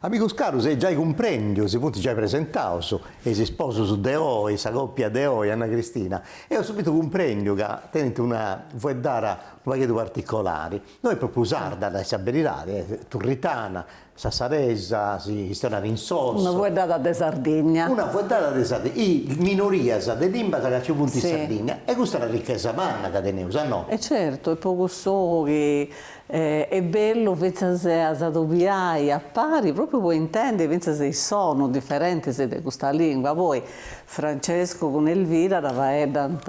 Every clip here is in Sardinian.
Amigus carus, e giai cumprèndiu, si funt giai presentaus, e is sposus de oi, sa còpia de oi, Anna Cristina, eo subitu cumprèndiu ca tenint una fueddara unu pagheddu particolari, no est pròpriu sarda, a nai sa beridadi, est turritana, sassaresa, si chistionat in Sossu. Una fueddada de Sardigna. Una fueddada de Sardigna, is minorias de limbas ca nci funt in Sardigna, e custa est una richesa manna ca teneus, a no? E certu, e po cussu chi Est bellu fintzas a s'adobiai a pari, pròpriu po intendi fintzas is sonus diferentis de custa lìngua. Poi Francescu cun Elvira dda faeddant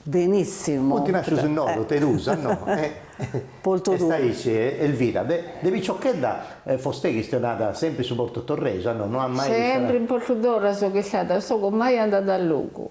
benìssimu. Funt nàscius innoga, terusa, no? Po totu. Est aici, Elvira, de de piciochedda fostei chistionada sempri su portutorresu, no? No at mai chistionau. Sempri in Portutorra sogu istada, sogu mai andada a logu.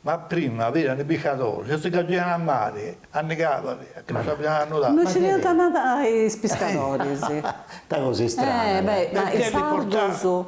Ma prima v'erani li piscadori, si si cagìani a mari, annigàbani, chi no sabìani nudà. Non scidiant a nadare is piscadores. Ita cosa istrana ca. Ma is sardos.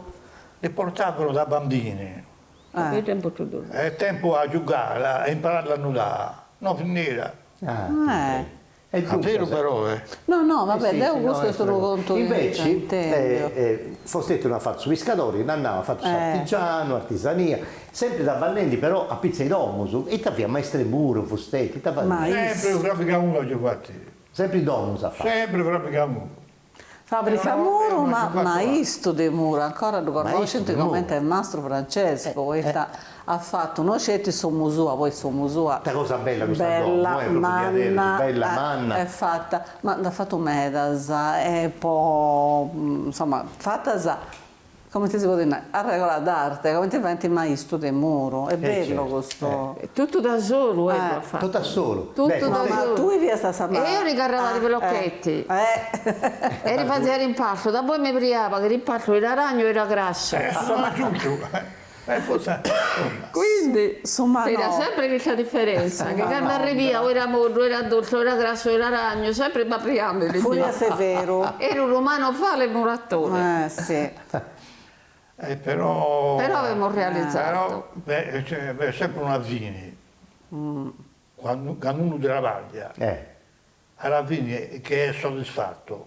Li portavano da bambini. Ahi tempus totu ddu. E tempu a giugà e imparà a nudà no vi n'era. Ah. E duncas. È veru però eh. No no va bè deu custu est unu contu invece fosteti no at fatu su piscadori, l'at nau at fatu s'artigianu, artisania, sempri traballendi però a pitzu 'e domus, ita fiat maistu 'e muru fusteti, ita fadiat? Sempri frabigamuru agiu fatu. Sempri domus at fatu. Sempri frabigamuru. Fabrica muru maistu de muru ancora ddu connoscint comente e Mastru Francescu poita at fatu no sceti s'omu sua poi s'omu sua bella manna est fata ma nd'at fatu medas e poi insoma fatas Comente si podit nai, a regola d'arte, comente faint is maistus de muru, est bellu custu. Totu da solu eus a fatu. Totu a solu. Totu da solu. Ma tui fiast a sa mama. Eu li carraba li blochetti. E li fazia l'impastu. Da boi mi briaba parchì l'impastu era lagnu e era grassu. Est su maju. Quindi insoma no. Era sempre chista diferentza, chi cando arribia o era moddu, o era tostu, o era grassu, o era lagnu, sempre briendi era. Fiat severu. Era unu manovale muratore. Si. E però. Però avemus realizadu. Però est sempre una fini, cando unu trabàglia. A la fini chi est soddisfatu.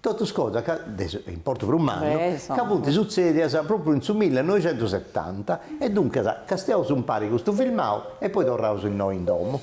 Totus cosas ca, de su, importu prus mannu, ca funt sutzèdias pròpriu in su millenoixentusetanta e duncas castiaus umpare custu filmau e poi torraus innoi in domu.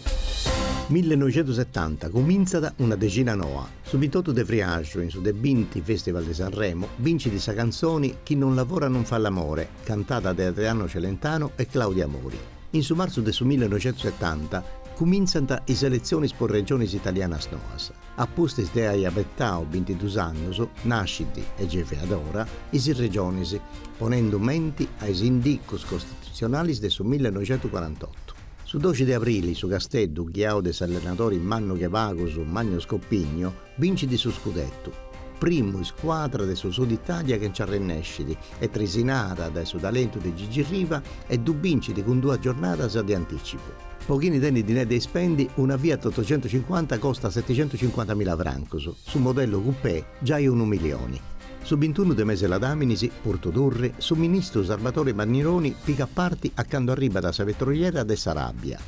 Millenoixentusetanta cumintzat una dexina noa, su bintotu de friaxu in su de binti Festival de Sanremo bincit sa cantzoni Chi non lavora non fa l'amore cantada de Adriano Celentano e Claudia Mori. In su martzu de su millenoixentusetanta cumintzant is eletzionis po regionis italianas noas. A pustis de ai abetau bintidus annus, nascit, e gei fiat ora, is Regionis, ponendu menti a is indicus costitutzionàlis de su millenoixentucuarantotu. Su doxi de abrili su Casteddu, ghiau de s'allenadori mannu che pagus Manlio Scopigno, bincit su scudetu, primu iscuadra de su Sud Itàlia chi nci arrennescit, e trisinada dae su talentu de Gigi Riva, e ddu bincit cun duas giornadas de anticipu. Po chini tenit dinai de ispendi, una Fiat ottocentocincuanta costat setecentocincuantamila francos, su modello coupé giai unu milioni. Su bintunu de mese 'e Ladaminis, Portu Turri, su ministru Sarbadore Mannironi pigat parti a cando arribat a sa petroliera de s'Aràbia.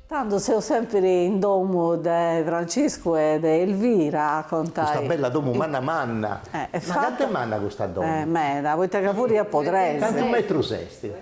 Tando seu sèmpiri in domu de Franciscu e de Elvira, contat. Custa bella domu manna manna. Ma cant'est manna custa domu? Meda, poita ca furi a po tres. Cantu metrus est?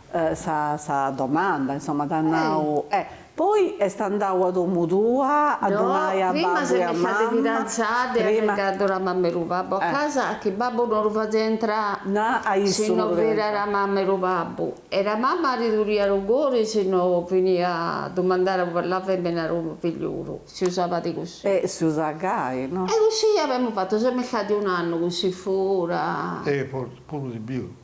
sa domanda, insoma, t'at nau, e poi est andau a domu tua a ddu nai a babbu e a mamma? No, prima s'est fidantzada e at arrigadu a mama e ru babbu a casa chi babbu no ru fazia intrai si no v'era a mama e ru babbu e ra mama ri duria ru cori si no vinia a dumandà pa la fèmina ru figliuru, si usabat cussì. E si usat gai, no? E cussì avemu fatu, semu istadi un annu cussì fura. E fortzis puru de pius.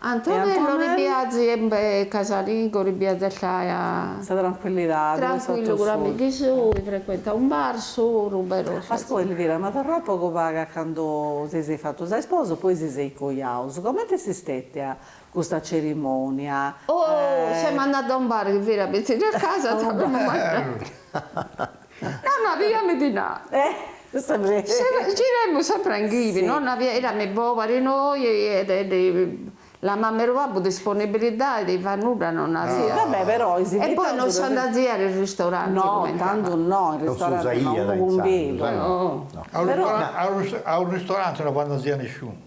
Antonello ri piazi e be casalingo ribiazellaiat. Sa trancuillidadi. Trancuillu cun amighi sui, frecuenta un bar solu, bero sa. Ascoi Elvira, ma torraus pagu pagu a candu si seis fatus a isposus, poi si seis coiaus. Comente est stetia custa cerimonia? Oh, semu andadi a un bar chi era bitzinu a casa. No no abìami dinà. Giremus sempre in ghivi, no no avia, èrami pòbari noi e la mama e ru babbu disponibilidadi de fai nudda non n'aviat. Va bè però is invitaus. E poi non s'andaziat in ristoranti. No, candu no, in ristoranti no, unu cumbidu. No. A u ristorante no v'andazia nisciunu.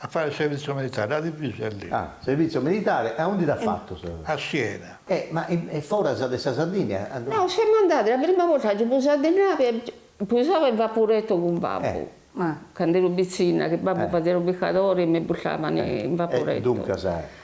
A fai servizio militare, a divisa est lì. Ah, servizio militare, e aundi l'at fatu sa. A Siena. E, ma e foras de sa Sardigna? No, semu andadi, sa prima borta agiu pusau di navi e pusava in vapureto cun babbu, ma, cand'eru pitzinna, chi babbu fazia ru piscadori e mi purtavan in vapureto. E duncas.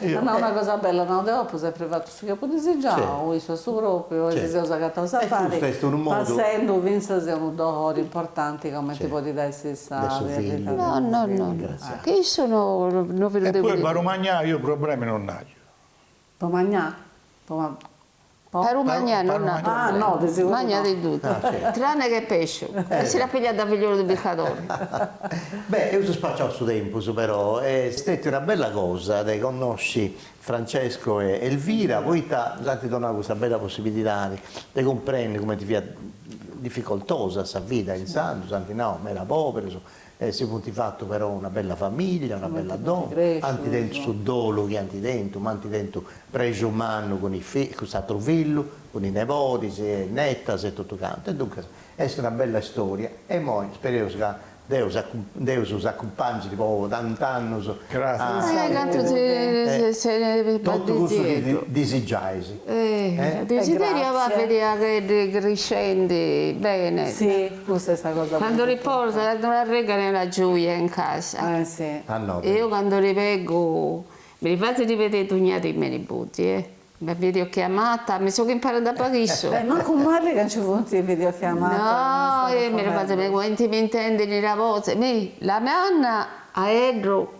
At nau una cosa bella, at nau, deu apu sempri fatu su chi apu disigiau, issu a su pròpriu, e si seus agataus a pari, passendu fintzas a unu dolori importanti comenti podit essi sa pèrdita de unu fillu. Che issu no no fit unu de. E poi pa ru magnai, io problemi non n'aio. Po magnai? Po. Pa lu magnà no n'ha. Ah no, de seguru no. Magna di tuttu, tranne che pesciu, e si l'ha pigliata da figliolu di piscadori. Beh, eus spaciau su tempus, però est stètia una bella cosa de connosci Francesco e Elvira, poita s'ant donau custa bella possibilidadi de cumprendi cumenti fiat dificoltosa sa vida intzandus, ant nau meda poberus, E si funt fatu però una bella famìllia, una bella domo, ant tentu su dolu chi ant tentu, ma ant tentu prexu mannu cun is fillus, cun s'atru fillu, cun is nebodis e netas e totu cantu. E duncas est una bella storia e imoi spereus ca Deus s'acumpangit po tant'annus a totu cussu chi disigiais. Desideriu abà vidé a eddi criscendi bene. Si, cussa est sa cosa prus Candu li portani arregani la gioia in casa. Eh si. A nobi. Eu candu li veggu mi li fazi vidé dugna dì me' niboddi e. Me videochiamata, mi soggu imparada da pochissimu. E mancu mali ca nci funt is videochiamatas. No, mi la fazi ma cumenti mi intendin la bozi, mi, la manna, aeddu.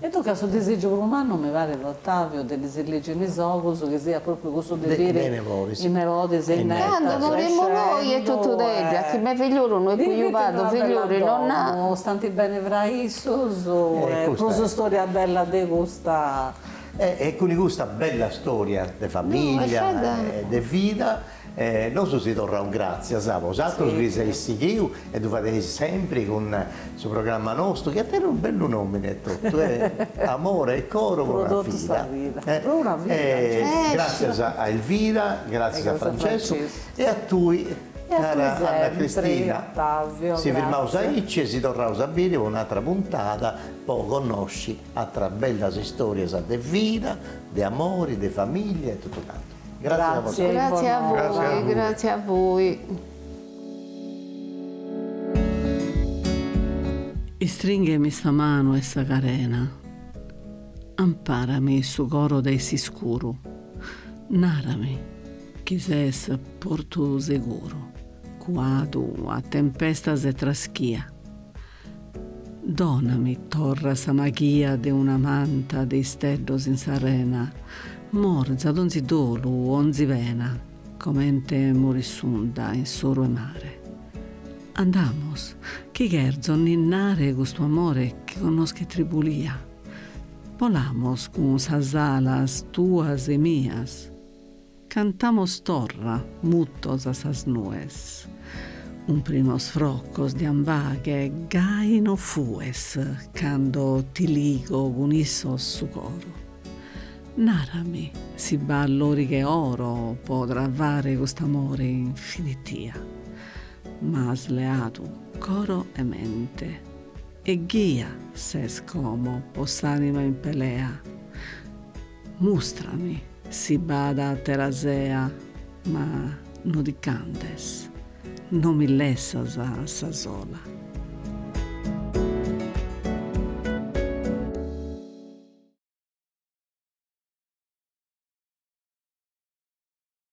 E tocat su disìgiu prus mannu, mi parit, Ottaviu, de ddi si ligit in is ogus, chi siat pròpriu cussu de biri is nebodis e netas, candu murimmu noi è tuttu d'eddi, chi me figliolu no è cuiuaddu, figlioli no n'ha. Stanti beni fra issus e prus storia bella de custa. E cun custa bella storia de famiglia e de vida. E nosu si torraus gràtzias a bosatrus chi s'eis sighiu e ddu fadeis sempri cun su programma nostru chi tenit unu bellu nòmini e totu, Amore e coro pro una vida. Pro una vida. Gràtzias a Elvira, gràtzias a Francescu e a tui cara Anna Cristina. Si firmaus aici e si torraus a biri po un'atra puntada po connosci atras bellas istorias de vida, de amori, de familia e totu cantu. Grazie a voi. Grazie a voi. Istringhemi sa manu e sa carena, amparami su coro de s'iscuru, narami chi ses portu seguru, cuadu a tempestas e traschia. Donami torra sa maghia de una manta de isteddos in s'arena, morza donzi dolu, onzi pena, comente morit s'unda in s'oru 'e mare. Andamos, chi cherzo ninnare custu amore chi connoschet tribulia. Bolamos cun sas alas tuas e mias. Cantamos torra mutos a sas nues. Umprimos frocos de ambaghe gai no fues cando ti ligo cun issos su coro. Narami si b'at loriga 'e oro po travare cust'amore infinitia. M'as leadu coro e mente e ghia ses como po s'anima in pelea. Mustrami si b'at àtera sea, ma no ti c'andes, no mi lessas a sa sola.